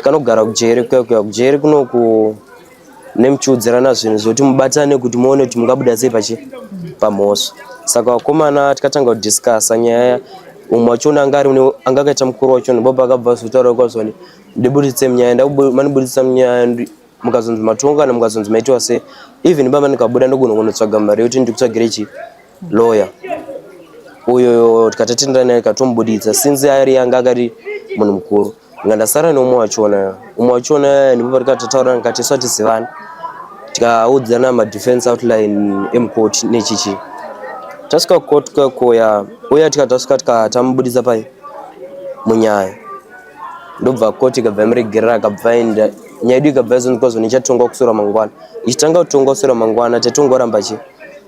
kanogara kujeri kuya kuya kujeri kunoku nemuchiudzirana zvinhu zvekuti mubatane kuti muone kuti mungabuda sei pachi pamhosva saka vakomana tikatanga kudiscasa nyaya umwe wachona anga ari anga akaita mukuru wachona baba akabva azotaura kwazvani ndiburitse munyaya ndamaniburitsa munyaya mukazonzi matonga kana mukazonzi maitiwa sei even baba ndikabuda ndogonokunotsvaga mari yekuti ndikutsvagire chii lawyer uyo tikatatendera naye katomubuditsa since ari yanga akati munhu mukuru nga ndasara neumwe wachona umwe wachona ndibaba tikatataura ndikati swatizivana tikaudzana madefense outline emukoti nechichi tasvika kukoti kwakoya uya tikatasvika tikatamubuditsa pai munyaya ndobva koti ikabva yamuregerera akabva enda nyaya yedu ikabva yazondikwazvo nichatongwa kusura mangwana ichitanga kutongwa kusura mangwana tatongoramba chii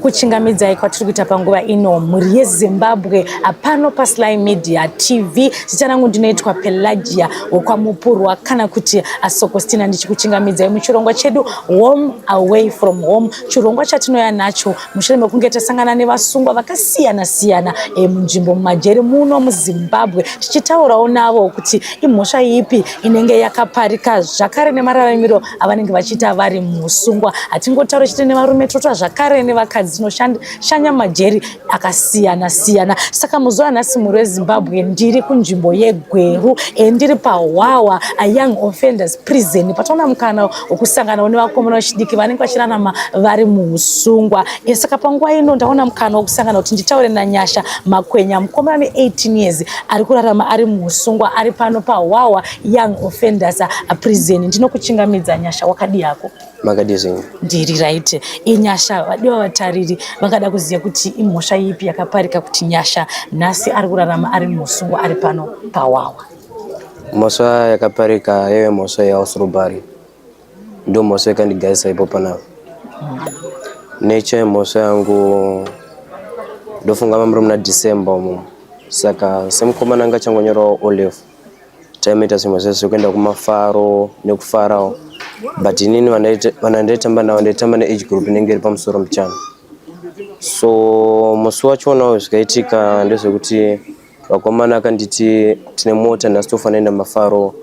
kuchingamidzai kwatiri kuita panguva ino mhuri yezimbabwe apano pasly media tv zita rangu ndinoitwa pelagia wokwamupurwa kana kuti asokostina ndichikuchingamidzai muchirongwa chedu home away from home chirongwa chatinoya nacho mushure mekunge tasangana nevasungwa vakasiyana siyana e, munzvimbo mumajeri muno muzimbabwe tichitaurawo navo kuti imhosva ipi inenge yakaparika zvakare nemararamiro avanenge vachiita vari musungwa hatingotaure chete nevarume totwa zvakare nevakadzi tinoshanya majeri akasiyana siyana saka muzuva nhasi mhuri wezimbabwe ndiri kunzvimbo yegweru e ndiri pahwawa ayoung offenders prison pataona mukana wokusanganawo nevakomana vechidiki vanenge vachirarama vari muusungwa e saka panguva ino ndaona mukana wokusangana kuti nditaure nanyasha makwenya mukomana ne 18 years ari kurarama ari muusungwa ari pano pahwawa young offenders prison ndinokuchingamidza nyasha wakadii hako makadii zvenyu ndiri right inyasha vadiwa vatariri vangada kuziva kuti imhosva ipi yakaparika kuti nyasha nhasi ari kurarama ari musungo ari pano pawawa mhosva yakaparika yaive mhosva yehouse robbery ndo mhosva yakandigarisa ipo panavo mm. neche mhosva yangu ndofunga mamuri muna december umo saka semukomana anga changonyorawo olefu taimaita zvimwe zvezvo kuenda kumafaro nekufarawo but inini vana ndaitamba navo ndaitamba neage group inenge iri pamusoro mbichana so musi wachonawo zvikaitika ndezvekuti vakomana akanditi tine mota nhasi tofanira enda mafaro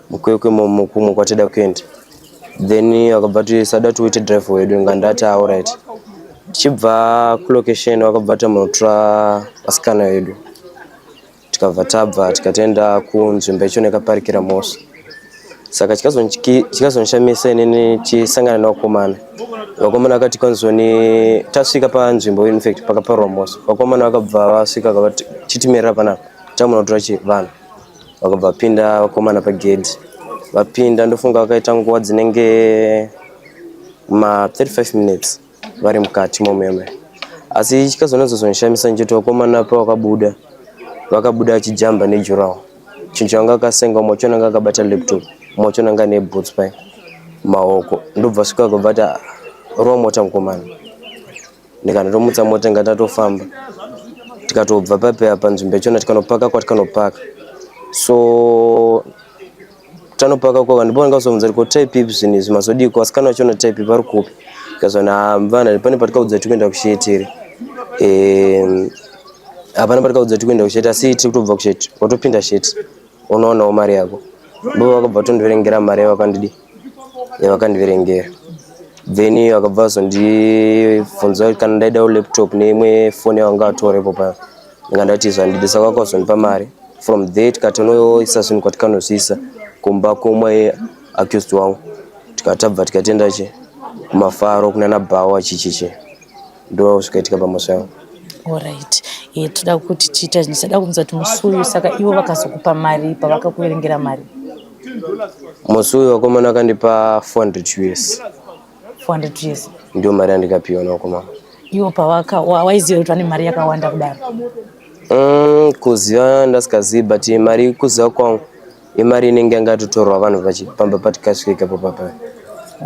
mukwekwe mukumwe kwatida kuenda then vakabva ti sada tiuite drive wedu nga ndati auright tichibva kulocation vakabva tamunotora vasikana vedu tikabva tabva tikatoenda kunzvimbo yacho nekaparikira mosva saka chikazondishamisa inini chisangana nevakomana vakomana vakati kanzoni tasvika panzvimbo infact pakaparwa mosva vakomana vakabva vasvika kavati chitimirira panapa tamunotora chivanhu vakabva vapinda vakomana pagedhi vapinda ndofunga vakaita nguva dzinenge ma 35 minutes vari mukati momeme asi chikazonatsozonishamisa ndichiti vakomana pavakabuda vakabuda achijamba nejurawo chinhu changa akasenga umwe wacho ananga akabata laptop umwe wacho ananga ane boots pai maoko ndobva svika kubva ati ah, rova mota mukomana ndikanotomutsa mota inga tatofamba tikatobva papeya panzvimbo yachona tikanopaka kwatikanopaka so tanopaka kwava ndipo vanenge vazobvunza kuti ko type ipi zvinhu izvi mazodii ko vasikana vacho vano type vari kupi ndikazvana ah, mvana pane patikaudza kuti kuenda kushetiri ehm, hapana patikaudza kuti kuenda kusheti asi tiri kutobva kusheti watopinda sheti unoonawo mari yako bo vakabva vatondiverengera mari yavakandidi yavakandiverengera then vakabva vazondibvunza kuti kana ndaida laptop neimwe foni yavanga vatorepo paya ndikandati zvandibisa kwako zvondipa mari from there tikatonoisa zvinhu kwatikanozviisa kumba komwe accused wangu tikatabva tikatenda che kumafaro kunana bhawa chichiche ndo zvikaitika pamusha yangu orit e toda kuti tiita zvinhu sada kunzwa kuti musi uyu saka ivo vakazokupa mari pavakakuverengera mari musi uyu vakomana akandipa 400 us 400 years ndio mari yandikapiwa nako mama iwo pawaka waiziva kuti vane mari yakawanda kudaro mm, kuziva ndasikazivi but mari kuziva kwangu imari inenge yanga yatotorwa vanhu vachipamba patikasvika ipapo papa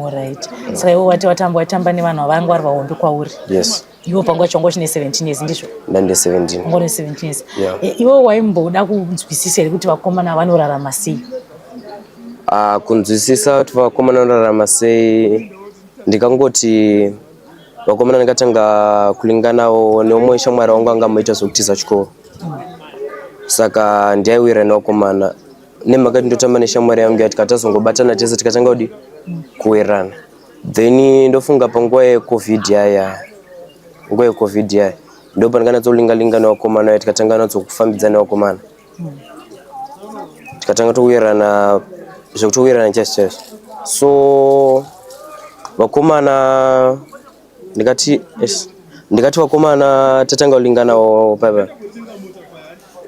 orit saka iwe wati watamba waitamba nevanhu havangwari vahombe kwauri yes iwo pangu wacho wanga uchine 17 years ndizvo ndande 17 wanga une 17 years yeah. E, iwo waimboda kunzwisisa here kuti vakomana vanorarama sei uh, kunzwisisa kuti vakomana vanorarama sei ndikangoti vakomana ndikatanga kulinganawo neumwe shamwari wangu anga amoita zvekutiza chikoro mm. saka ndiyaiwira nevakomana nemhaka tindotamba neshamwari yangu ya tikatazongobatana tese tikatanga kudi mm. kuwirana then ndofunga panguva yecovid yaya nguva yecovid yaya ndo pandikanatsolingalinga nevakomana ya tikatanga natsokufambidzana nevakomana tikatanga touyerana zvekutouyerana chese chese so vakomana ndikati yes ndikati vakomana tatanga kulinganawo papa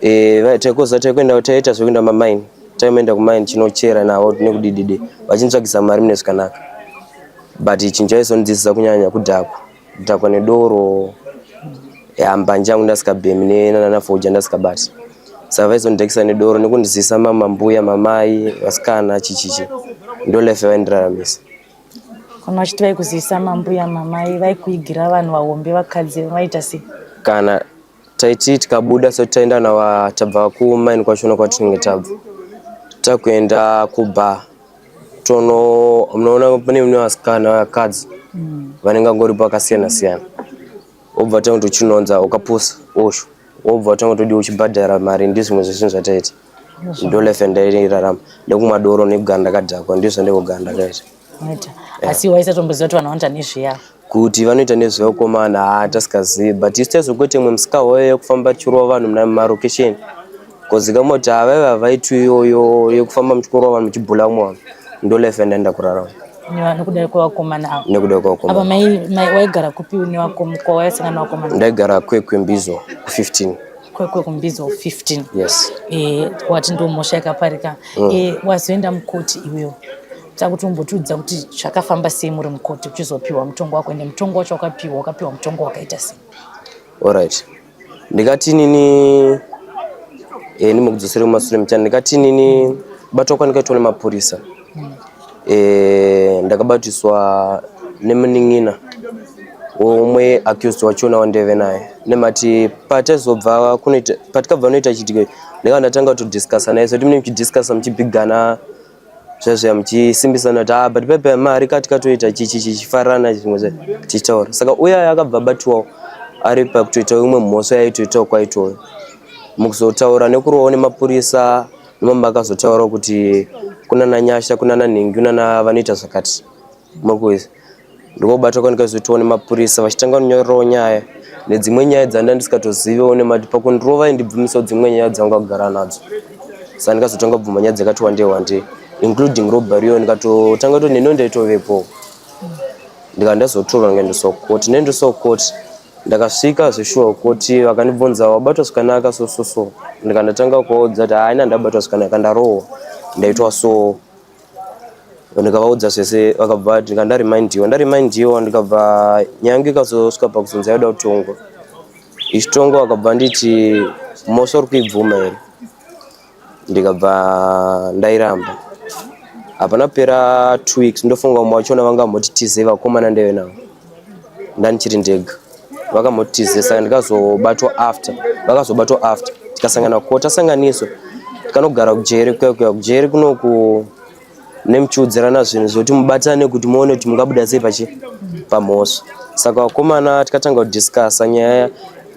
eh vai taikoza taikuenda taita zvekuenda mamaini taienda kumaini chinochera navo tine kudidide vachinitsvagisa mari mune zvakanaka but chinhu chaizondidzisa kunyanya kudhakwa kudhakwa nedoro ya mbanje yangu ndasikabhemi ne- na- na fodya ndasikabati saka vaizondidhakisa nedoro nekundizisa mamambuya mamai vasikana chichichi ndo life yaindiraramise Kana vachiti vaikuzivisa mambuya mamai vaikuigira vanhu vahombe vakadzi vaita sei? Kana taiti tikabuda so taenda nava tabva kumaini kwacho no kwatinenge tabva takuenda kubar tono munoona pane mune vasikana vakadzi mm. vanenge vangoripo vakasiyana siyana wobva watanga kuti uchinonza ukapusa osho wobva watanga kuti udiwa uchibhadhara mari ndizvimwe zvesvinhu zvataita ndolefe ndairarama nekumwa doro nekugara ndakadhakwa ndizvo ndekugara ndakaita eh. asi waisatomboziva kuti vanhu vanoita nezveya kuti vanoita nezveukomana haa tasikazivi but isu taizokuti imwe musika hoyo yekufamba tichirova vanhu mumarokesheni kozika moti haa vaive havaitwi iyoyo yekufamba muchikorova vanhu muchibhula mwana ndolefe ndaenda kurarama nekuda kwevakomana ava nekuda kwevakomana waigara kupi nevakomana ndaigara kwekwembizo ku15 kwekwe kumbizo 15 yes eh wati ndo mosha yakaparika mm. eh wazoenda mukoti iwewe takuti umbotiudza kuti zvakafamba sei muri mukoti uchizopiwa mutongo wako ende mutongo wacho wakapiwa wakapiwa mutongo wakaita sei alright ndikati nini eh nimekudzosere kumasure mchana ndikati nini batwa kwandikaitwa nemapurisa eh, ndakabatiswa nemunin'ina umwe accused wachona wandeve naye nemati patazobva kunoita patikabva noita chitiko ndakava ndatanga kutodiscussa naye so timune muchidiscussa muchibigana zvazvaya muchisimbisana kuti ah but pepe mari kati katoita chichi chichifarana zvimwe zva tichitaura saka uye aya akabva abatiwawo ari pakutoita imwe mhosva yaitoitawo kwaitoyo mukuzotaura nekurohwa nemapurisa Mama akazotaura kuti kuna Nanyasha kuna Nanhingi kuna na vanoita zvakati makuiza ndikobatwa kwandikazoitwa nemapurisa vachitanga kunyorerawo nyaya nedzimwe nyaya dzandanga ndisikatozivewo nemati pakundirova indibvumisawo dzimwe nyaya dzanga kugara nadzo saka ndikazotanga bvuma nyaya dzakati wandei wandei including robbery yo ndikatotanga to neno ndaitovepo ndikanda zotorwa ndikaendeswa kukoti ndaendeswa kukoti Ndakasvika zveshuwa kuti vakandibvunza wabatwa zvakanaka so so so ndikandatanga kuvaudza kuti haina ndabatwa zvakanaka ndarohwa ndaitwa so ndikavaudza zvese vakabva vati ndikandaremindiwa ndaremindiwa ndikabva nyange ikazosvika pakuzonzi yaida kutongwa ichitongwa vakabva nditi mhosva uri kuibvuma here ndikabva ndairamba hapana kupera two weeks ndofunga umwe wachona vanga vamboti tize vakomana ndeve navo ndandichiri ndega vakamoti tize saka ndikazobatwa after vakazobatwa after tikasangana ko tasanganiswa tikanogara kujeri kuya kuya kujeri kunoku nemuchiudzirana zvinhu zvekuti mubatane kuti muone kuti mungabuda sei pachi pamhosva saka vakomana tikatanga kudiscussa nyaya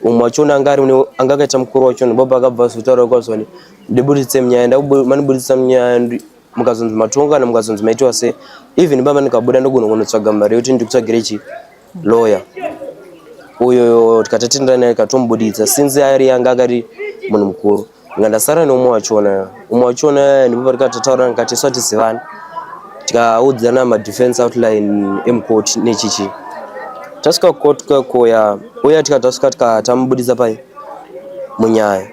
umwe wachiona anga ari anga akaita mukuru wacho nobaba akabva azotaura kwazvani ndiburitse munyaya ndamaniburitsa munyaya mukazonzi matonga kana mukazonzi maitiwa se even baba ndikabuda ndogonogonotsvaga mari yekuti ndikutsvagire chii lawyer uyo tikatatendera naye katomubuditsa since ari yanga akati munhu mukuru nga ndasara neumwe wachona umwe wachona ndibaba rikatataura ndikati swatizivana tikaudzana madefense outline emukoti nechichi tasvika kukoti kwakoya uya tika tasvika tika tamubuditsa pai munyaya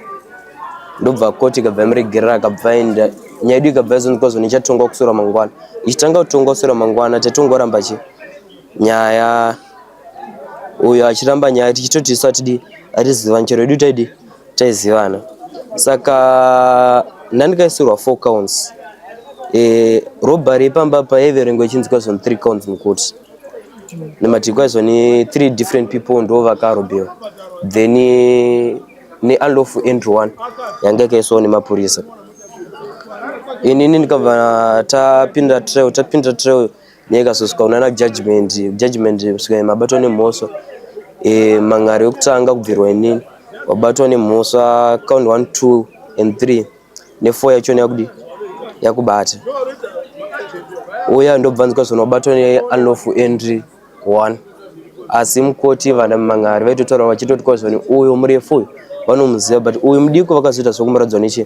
ndobva koti ikabva yamuregerera akabva enda nyaya yedu ikabva yazondikwazvo nichatongwa kusura mangwana ichitanga kutongwa kusura mangwana tatongoramba chii Nyaya uyo achiramba nyaya tichitoti isu atidi atizivani chero edu taidi taizivana saka ndandikaisirwa four counts e, robbery pamba pa yaiverengwa ichinzika zvoni three counts mukuti nematikwa zvoni three different people ndo vakarobewa then neunlawful entry one yanga yakaiswawo nemapurisa inini ndikabva tapinda trail tapinda trail nyaya ikazosvika kunana judgment judgment svika mabatwa nemhosva e, mangari yokutanga kubvirwa inini wabatwa nemhosva count one two and three nefour yachona yakudi yakubata uya ndobvanzika zvona wabatwa neunlofu entry one asi mukoti vana mangari vaitotaura vachitoti kwazvani uyo murefu uyu vanomuziva but uyu mudiko vakazoita zvekumuradzwa nechii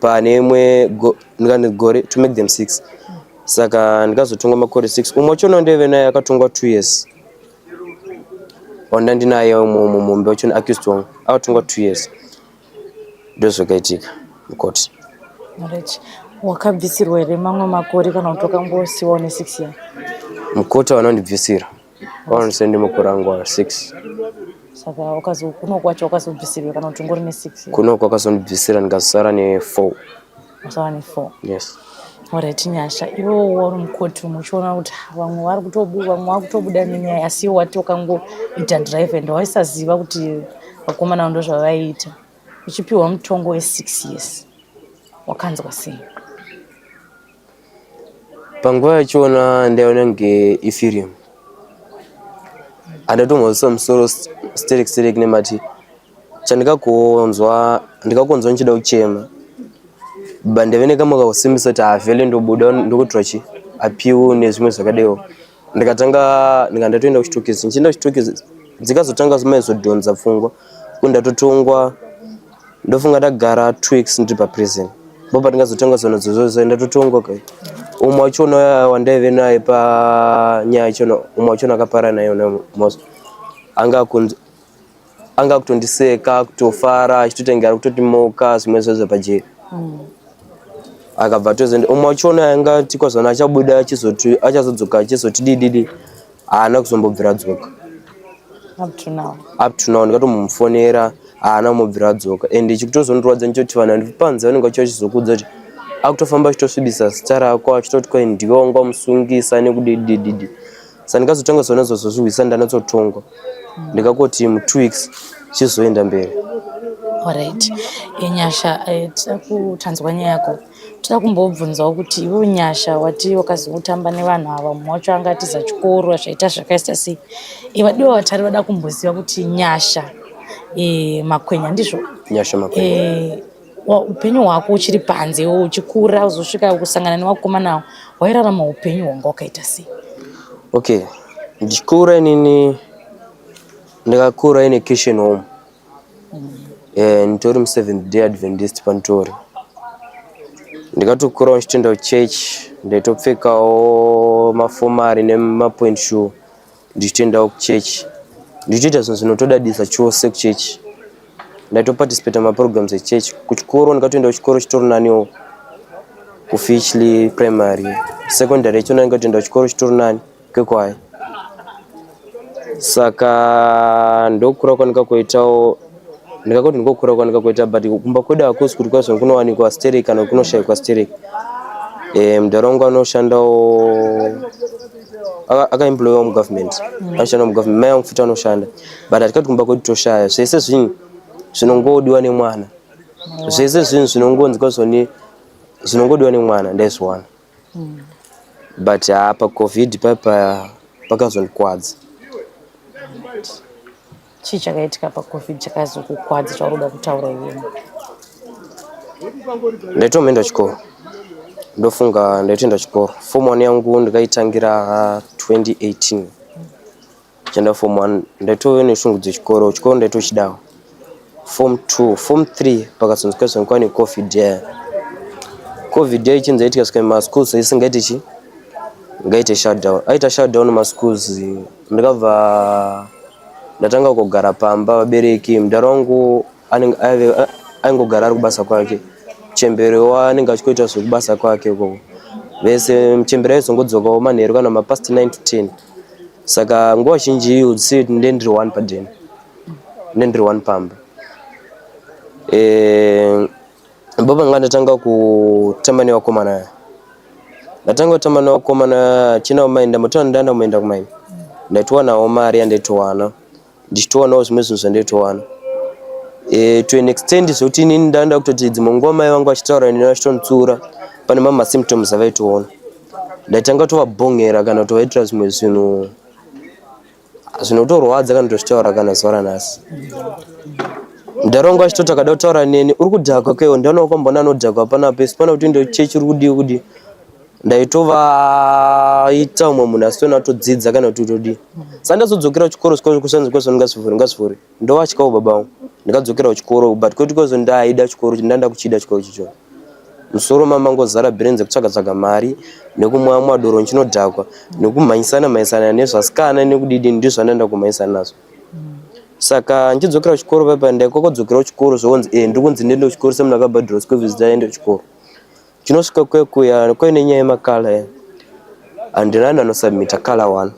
pane imwe gore to make them six saka ndikazotongwa makore six umwe wacho nondeve naye akatongwa two years wandandinaye umwe umwe mumbe wacho neaccused wangu akatongwa two years ndozvakaitika mukoti right wakabvisirwa here mamwe makore kana kuti wakangosiwa une six year mukoti vanondibvisira Wanosendi mukurangwa 6. Saka wakazo kuno kwacho wakazobvisirwa kana kuti ngori ne 6. Kuno kwakazondibvisira ndikazosara ne 4. Wasara ne 4. Yes. Alright nyasha iwe wari mukoti muchiona kuti vamwe vari kutobuda vamwe vari kutobuda nenyaya asi iwe wati wakangoita drive and waisaziva kuti vakomana ndo zvavaiita uchipiwa mutongo we 6 years wakanzwa sei? Panguva yachona ndaiona kunge ifirimu andatomhozisa musoro sterek sterek nemati chandikakonzwa ndikakonzwa ndichida kuchema but ndave nekamwe kakusimbisa kuti havele ndobuda ndokuitwa chi apiwu nezvimwe zvakadewo ndikatanga ndika ndatoenda kuchitokisi ndichienda kuchitokisi dzikazotanga zimai zodhonza pfungwa kuti ndatotongwa ndofunga ndagara two weeks ndiri paprison bo patingazotanga zona dzozozo ndatotongwa kai umwe wachona wandaive naye panyaya chona umwe wachona akapara naye most anga akunzi anga akutondiseka kutofara achitotengera kutotimoka zvimwe zvezvo pajeri mm. akabva tozoenda umwe wachona anga tikwazana achabuda achazodzoka achizotidididi haana kuzombobvira dzoka up to now ndikatomufonera haana kumubvira dzoka and chikutozondirwadza ndichoti vanhu vandipanzi vanenge vachiva chizokudza kuti akutofamba achitosvibisa zita rako achitoti kwaindiwe wanga wamusungisa nekudidididi sandikazotanga zona zozozvihwisa ndanotsotongwa ndikakoti mu two weeks chizoenda mberi orit nyasha eh, tida kutanzwa nyaya yako tida kumbobvunzawo kuti ivo nyasha wati wakazotamba nevanhu ava mumwe wacho anga atiza chikoro zvaita zvakaisa sei ivadiwa vatari vada kumboziva kuti nyasha eh, makwenya ndizvo nyasha makwenya eh, upenyu hwako uchiri panze iwo uchikura uzosvika kusangana nevakomanawo wairarama upenyu hwanga wakaita sei okay ndichikura inini ndakakura ine christian home mm. eh, nditori museventh day adventist panditori ndikatokurawo ndichitoenda kuchurch ndaitopfekawo mafomari nemapoint shoe ndichitoendawo kuchechi ndichitoita zvinhu zvinotodadisa chose kuchechi ndaitoparticipata maprograms echechi kuchikoro ndikatoenda kuchikoro chitori naniwo kufichly primary secondary yacho ndandikatoenda kuchikoro chitori nani kekwayo saka ndokura kwanika kuitawo ndikakoti ndikokura kwanika kuita but kumba kwedu hakusi kuti kwazvo kunowanikwa sterek kana kuti kunoshaikwa sterek e, eh, mudhara wangu anoshandawo akaemployiwa mugovernment mm. anoshanda mugovernment mai vangu futi anoshanda but hatikati kumba kwedu toshaya zvese zvinhu zvinongodiwa nemwana zvese zvinhu zvinongonzi kwazvoni zvinongodiwa nemwana ndaizviwana mm. but haa pacovid paipa pakazondikwadza Chii chakaitika paCovid chakazokukwadza chauri kuda kutaura iweni? Ndaitomenda chikoro ndofunga ndaitoenda chikoro form one yangu ndikaitangira 2018 chaenda form one ndaitove neshungu dzechikoro chikoro ndaitochidawo form two form three pakazonzi kaizonekwa necovid yaya covid yaya ichinzi yaitika sika maschools isingaite chi ngaite shutdown aita shutdown maschools uh, ndikabva ndatanga kugara pamba vabereki mudhara wangu aingogara ari kubasa kwake chembere waanenge achikoita zvekubasa kwake ikoko vese muchembere aizongodzokawo manheru kana mapast 9 to 10 saka nguva zhinji iyo si nde ndiri one padeni nde ndiri one pamba e, Baba nga ndatanga kutamba nevakomana aya ndatanga kutamba nevakomana chinawo mai ndamutowana ndaenda kumaenda kumaini ndaitowanawo mari yandaitowana ndichitowanawo zvimwe zvinhu zvandaitowana e, to an extent zvekuti inini ndaenda kutoti dzimwe nguva mai vangu vachitaura neni vachitonditsiura pane mamwe masymptoms avaitoona ndaitanga tovabhongera kana kutovaitira zvimwe zvinhu zvinotorwadza kana tozvitaura kana zuva ranhasi ndaronga chitoti akada kutaura neni uri kudhakwa kewo ndaona wakamboona anodhakwa pana pesi pana kuti ndo chechi uri kudii kudii ndaitovaita umwe munhu asitona atodzidza kana kuti utodii sandazodzokera kuchikoro siko kusanzi kwasonungasivhuri ngasivhuri ndovatyawo baba vangu ndikadzokera kuchikoro but kwete because ndaida chikoro ndanda kuchida chikoro chicho musoro mama ngozara brenze kutsvaga tsvaga mari nekumwa mwa doro nchinodhakwa nekumhanyisana mhanyisana nezvasikana nekudidi ndizvandanda kumhanyisana nazvo saka nchidzokera kuchikoro paipa ndaikokodzokera kuchikoro zvonzi eh ndikunzi ndende kuchikoro semunhu akabhadhira school fees ndaende kuchikoro Chinosvika kwekuya kwe nenyaya yemakala ya handina nano submita kala one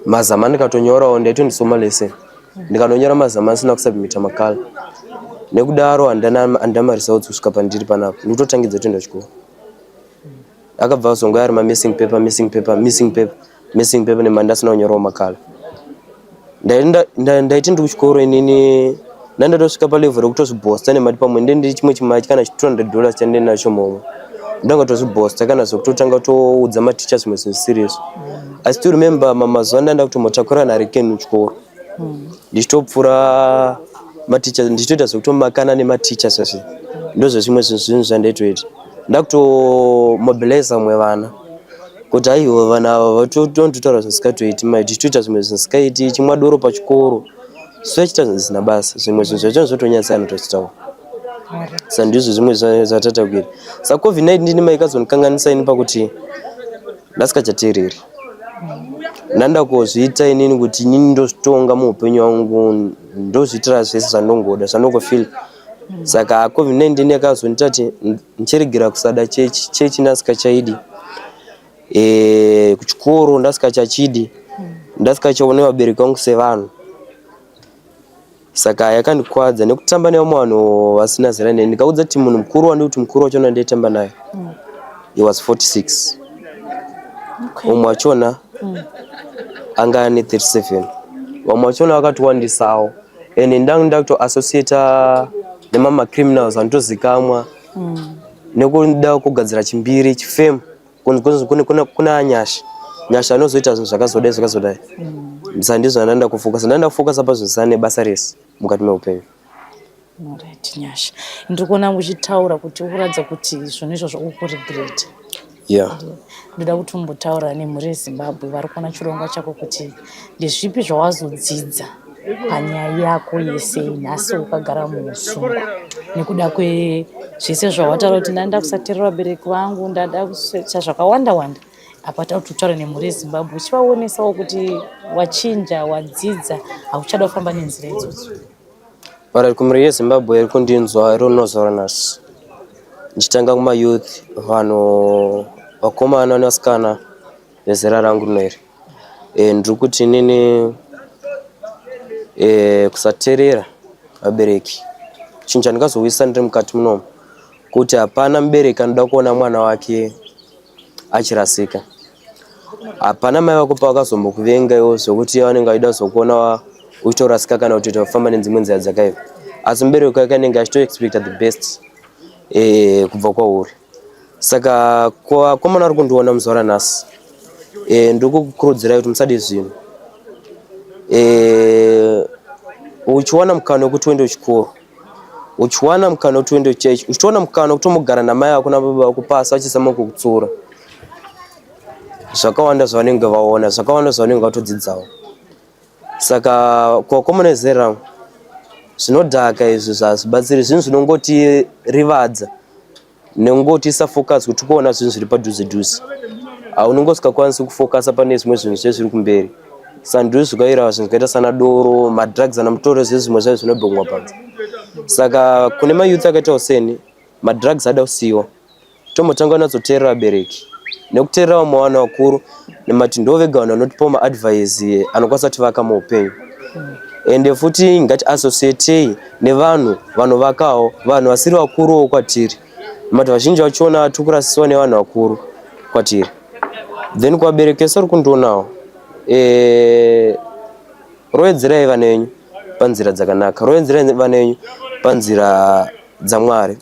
mazama ndikatonyorawo ndaito ndisoma lese ndikanonyora mazama asina kusubmita makala nekudaro handina handina marisautsi kusvika pandiri panapa ndikutotangidza kutoenda chikoro Akabva azongoya ari mamissing paper, missing paper, missing paper, missing paper nemari ndasina kunyorawo makala. Ndaiti ndi kuchikoro inini ndandatosvika palevel rekutozvibhosta nemari pamwe ndende chimwe chimachi kana chi 200 dollars chandine nacho momwe ndanga tozvibhosta kana zvekutotanga toudza maticha zvimwe zvinhu zvisiri izvo. I still remember mamazuva ndanda kutomotakura nharikeni kuchikoro. mm. ndichitopfura maticha ndichitoita zvekutomakana nematicha zvese ndozvezvimwe zvinhu zvandaitoita ndakutomobiliza vamwe vana kuti aiwa vana ava vatondotaura zvisikatoiti mai tichitoita zvimwe zvisikaiti chimwa doro pachikoro soachita zvinhu zvisina basa zvimwe zvinhu zvacho zvotonyatsa anotochitaura sandizvo zvimwe zvatatakuita sacovid-19 ndimaikazonikanganisa ini pakuti ndasikachateereri ndanda kuzviita inini kuti inini ndozvitonga muupenyu wangu ndozviitira zvese zvandongoda zvandongofil saka covid-19 yakazondiita kuti ndichiregera kusada chechi chechi ndasikachaidi e, eh, kuchikoro ndasikachachidi ndasikachaone vabereki vangu sevanhu Saka yakandikwadza nekutamba nevamwe vanhu vasina zera neni ndikaudza kuti munhu mukuru wandiri kuti mukuru wachona wandiyetamba naye mm. he was 46 okay. umwe wachona mm. anga ane 37 vamwe vachona vakatiwandisawo and ndanga nda kutoassociata nemama criminals anotozikamwa mm. nekuda kugadzira chimbiri chifemu kuna nyasha nyasha anozoita zvinhu zvakazodai zvakazodai mm. sa ndizvo andaenda kufokasa ndaenda kufokasa pazvisana nebasa rese mukati meupenyu orit nyasha ndiri kuona uchitaura kuti ukuratidza kuti zvinhu izvozvo ukuregret ya ndoda kuti umbotaura nemhuri yezimbabwe vari kuona chirongwa chako kuti ndezvipi zvawazodzidza panyaya yako yese nhasi ukagara muusungwa nekuda kwezvese zvawataura kuti ndanda kusaterera vabereki vangu ndada kusecha zvakawanda wanda apa tava kuti utaure nemhuri yezimbabwe uchivaonesawo kuti wachinja wadzidza hauchada kufamba nenzira idzodzo vara kumhuri yezimbabwe iri kundinzwa iri unozora nhasi ndichitanga kumayouth vanhu vakomana nevasikana vezera rangu rino iri Eh, ndiri kuti inini eh, kusaterera vabereki chinhu chandingazowisisa ndiri mukati munomu kuti hapana mubereki anoda kuona mwana wake achirasika hapana mai vako pavakazombokuvenga iwo zvekuti vanenge vachida kuzokuona wa- uchitorasika kana kuti tofamba nedzimwe nzira dzakaipa asi mubereki wake anenge achitoexpecta the best eh, kubva kwauri Saka ko akomana ari kundiona muzuva ranhasi e, ndiri kukukurudzirai kuti musade zvinhu e, uchiwana mukana wekuti uende kuchikoro uchiwana mukana wekuti uende kuchechi uchitowana mukana wekuti umogara namai vako nababa vako pasi vachisama kukutsura zvakawanda zvavanenge vaona zvakawanda zvavanenge vatodzidzawo saka kuvakomana vezera rangu zvinodhaka izvi zvazibatsiri zvinhu zvinongotirivadza nekungotiisa focus kuti kuona zvinhu zviri padhuze dhuze haunenge usikakwanisi kufokasa pane zvimwe zvinhu zvezviri kumberi sandizvo zvikairawa zvinhu zvakaita sana doro madrugs ana mutoro zvezvimwe zvayo zvinobhongwa panze saka kune mayouth akaitawo seni madrugs ada kusiyiwa Tombotanga kunatsoteerera vabereki nekuteerera vamwe vanhu vakuru nemati ndo vega vanhu vanotipawo maadvise anokwanisa kutivaka muupenyu ende futi ngati associatei nevanhu vanovakawo vanhu vasiri vakuruwo kwatiri mati vazhinji vachiona tiri kurasisiwa nevanhu vakuru kwatiri then kuvaberekesa uri kundionawo e, roedzerai vana venyu panzira dzakanaka roedzerai vana venyu panzira dzamwari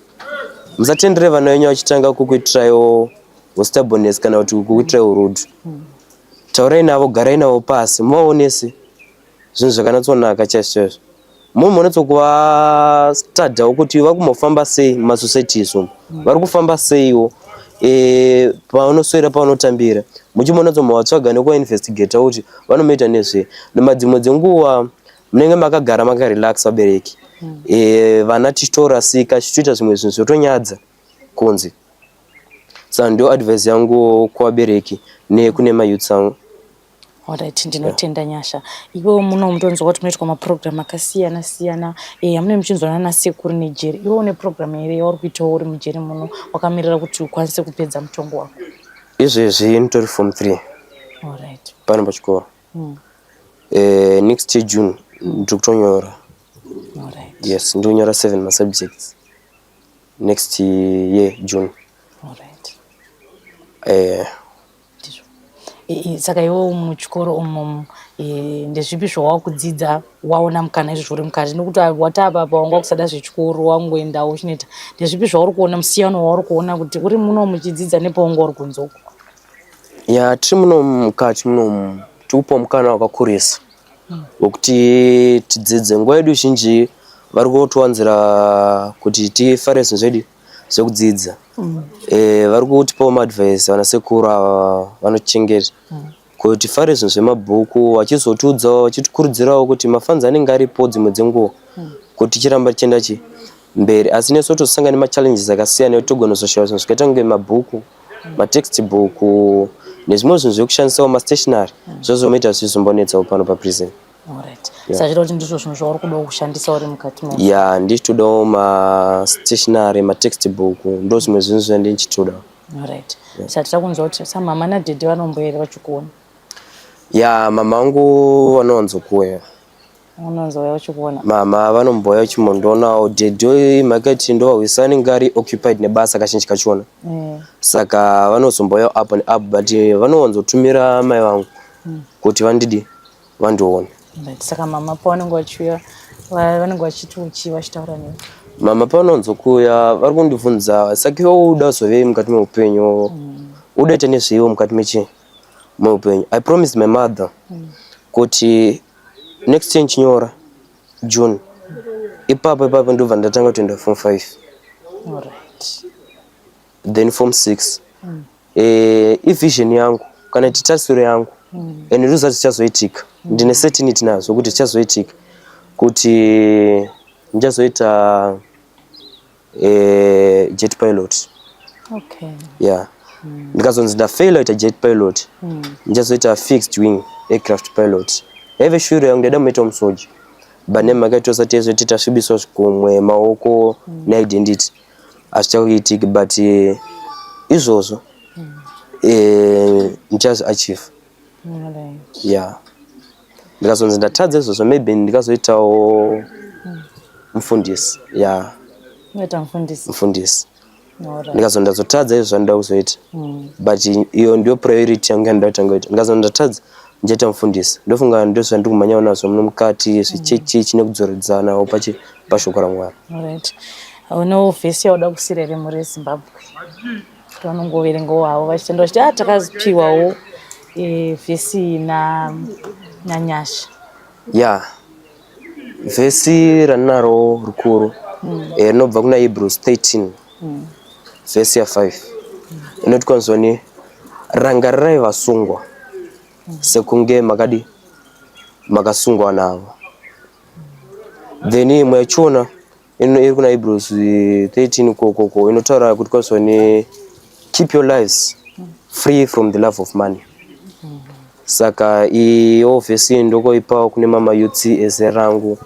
musatendere vana venyu vachitanga kukuitiraiwo ustaboness kana kuti kukuitirai urudu taurai navo garai navo pasi muvaonese zvinhu zvakanatsonaka chaizvo chaizvo mumhu munotsokuvastadhawo kuti vakumbofamba sei mumasociety isu vari kufamba seiwo e, pavanoswera pavanotambira muchimonotsomavatsvaga nekuvainvestigata kuti vanomaita nezvei nemadzimwe dzenguva munenge makagara makarelax vabereki mm. e, vana tichitorasika tichitoita zvimwe zvinhu zvotonyadza kunzi sa ndio advise yangu kuvabereki nekune mayouths angu orit ndinotenda yeah. nyasha iwewo muno mutonzwa kuti munoitwa maprogramu akasiyana siyana e, amune muchinzwana nasekuru nejeri iwewo une programu here yauri kuitawo uri mujeri muno wakamirira kuti ukwanise kupedza mutongo wako izvezvi nditori form three orit pano pachikoro mm. eh, next year june ndiri kutonyora right. yes ndiri kunyora seven masubjects next year june right. eh, saka iwo muchikoro umomo eh, ndezvipi zvawava kudzidza waona mukana izvo zviri mukati nokuti wataapapa wanga kusada zvechikoro wangoendawo uchinoita ndezvipi zvauri kuona musiyano wauri kuona kuti uri muno muchidzidza nepaunga uri kunzoko Ya tiri muno mukati munomu tikupiwa mukana wakakurisa wekuti tidzidze. Nguva yedu zhinji vari kutowanzira kuti tifare zvinhu zvedu zvekudzidza. Mm. E, vari kutipawo maadvice vana sekuru ava vanochengeta mm. kuti tifare zvinhu zvemabhuku vachizotiudzawo vachitikurudzirawo kuti mafanzi anenge aripo dzimwe dzenguva mm. kuti tichiramba tichienda chii mberi asi nesu totosanga nemachallenges akasiyana nekuti togona kuzoshaya zvinhu zvakaita kunge mabhuku matext book nezvimwe zvinhu zvekushandisawo mastationary mm. zvozomaita zvichizombonetsawo pano paprison sachita kuti ndizvo zvinhu zvauri kudawo kushandisa uri mukati mo ya ndichitodawo mastationary matext book ndo zvimwe zvinhu zvandi ndichitoda right sachita kunzwa kuti samama nadhedhe vanomboyere vachikuona ya mama angu vanowanzokuuya unonzouya uchikuona mama vanombouya uchimondionawo dhedhi makati ndovahwisani ngari occupied nebasa kazhinji kachona mm. saka vanozombouya up and up but vanowanzotumira mai vangu mm. kuti vandidi vandione saka mama pavanenge vachiuya vanenge vachiti uchii vachitaura nei mama pavanonzokuuya vari kundibvunza saka iwe uda zovei mukati meupenyu mm. udaita nezveiwo mukati mechi meupenyu i promised my mother mm. kuti next year ndichinyora june ipapo ipapo ndobva ndatanga kutoenda form five then form six mm. eh, ivision yangu kana kuti tarisiro yangu mm. and ndozati zvichazoitika mm. ndine certainty nazvo kuti zvichazoitika kuti ndichazoita eh, jet pilot okay. yeah mm. ndikazonzi ndafaila ita jet pilot mm. ndichazoita fixed wing aircraft pilot yaive shuro yangu ndaida muita musoja but name makaitosa tese tita svibiso zvikumwe maoko mm. ne identity achakuitiki but eh, izvozvo mm. eh, ndichazo achieve yeah ndikazonzi ndatadza izvozvo maybe ndikazoitawo mufundisi yeah unoita mufundisi mufundisi Alright. ndikazonzi ndazotadza izvo zvandoda kuzoita Mm. but iyo ndiyo priority yangu yandoda kutanga kuita ndikazonzi ndatadza ndichaita mufundisi ndofunga ndizvo zvandiri kumhanyawo nazvo muno mukati zvichechi chine kudzoredzanawo pachi- pashoko ramwari Alright. Unewo vhesi yauda kusira here muri Zimbabwe? vanongoverengawo havo vachitenda vachiti ah, takapiwawo eh, vhesi na nanyasha ya vhesi ranaro rukuru mm. eh, rinobva kuna hebrews 13 mm. vhesi ya 5 inoti kwanzoni rangarirai vasungwa mm. sekunge makadi makasungwa navo then imwe yachiona iri kuna Hebrews 13 kokoko inotaura kuti kwazvani keep your lives free from the love of money saka iyo vhesi ndokoipawo kune mama yutsi eze rangu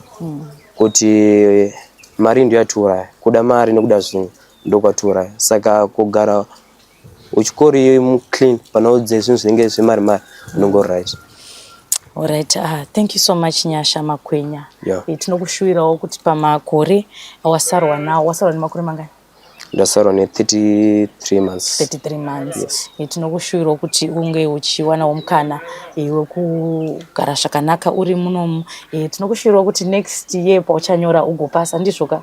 kuti mari ndiyo yatiuraya kuda mari nekuda zvinhu ndokwatiuraya saka kugara uchikori iyoyi muclean panoudze zvinhu zvinenge zvemari mari unenge uri right Alright, ah, thank you so much Nyasha Makwenya. Yeah. Eh, tinokushuwirawo kuti pamakore awasarwa nawo wasarwa nemakore mangani? Ndasarwa ne 33 months. 33 months. Yes. Eh, tinokushuwirawo kuti unge uchiwanawo mukana eh, wekugara zvakanaka uri munomu. Eh, tinokushuwirawo kuti next year pauchanyora ugopasa ndizvoka?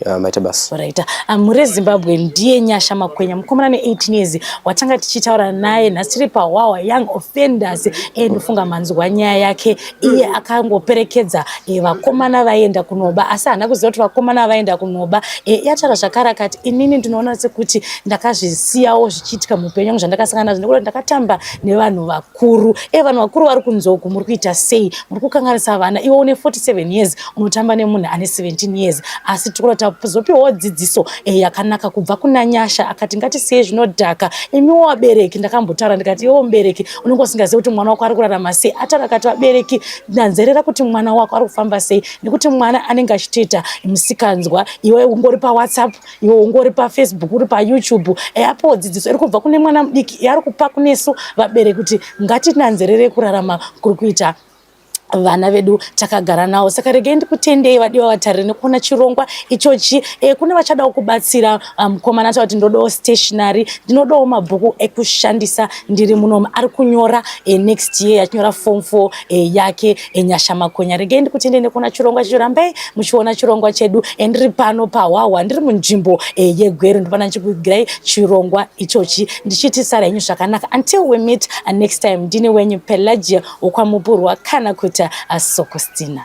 Yeah, maita basa. Alright. Amure ah, Zimbabwe ndiye Nyasha Makwenya mukomana ne 18 years watanga tichitaura naye nhasi tiri pa Wawa Young Offenders endofunga eh, manzwa nyaya yake iye akangoperekedza eh, vakomana vaenda kunoba asi hana kuziva kuti vakomana vaenda kunoba eh, yatara zvakara kati inini ndinoona sekuti ndakazvisiyawo zvichiitika mupenyu wangu zvandakasangana nazvo nekuti ndakatamba nevanhu vakuru vakuru e vanhu vakuru vari kunzoku muri kuita sei muri kukanganisa vana iwe une 47 years unotamba nemunhu ane 17 years asi tikura tazopiwawo dzidziso e yakanaka kubva kuna nyasha akati ngatisiye zvinodhaka imiwo vabereki ndakambotaura ndikati iwo mubereki unenge usingazivi kuti mwana wako ari kurarama sei ataura akati vabereki ndanzerera kuti mwana wako ari kufamba sei nekuti mwana anenge achitoita musikanzwa iwe ungori pawhatsapp iwe ungori pafacebook uri payoutube eapo dzidziso iri kubva kune mwana mudiki yaari kupa kunesu vabereki kuti ngatinanzerere kurarama kuri kuita vana vedu takagara nawo saka regai ndikutendei vadiwa vatariri nekuona chirongwa ichochi e, kune vachadawo kubatsira ah, mukomana um, taura kuti ndodawo stationary ndinodawo mabhuku ekushandisa ndiri munomu ari kunyora e, next year achinyora form four e, yake Enyasha Makonya, regai ndikutendei nekuona chirongwa chedu. Rambai muchiona chirongwa chedu e, ndiri pano pahwahwa, ndiri munzvimbo e, yeGweru, ndipana ndichikuigirai chirongwa ichochi ndichiti sara henyu zvakanaka. Until we meet uh, next time, ndini wenyu Pelagia wokwamupurwa kana kuti uh, Sokostina.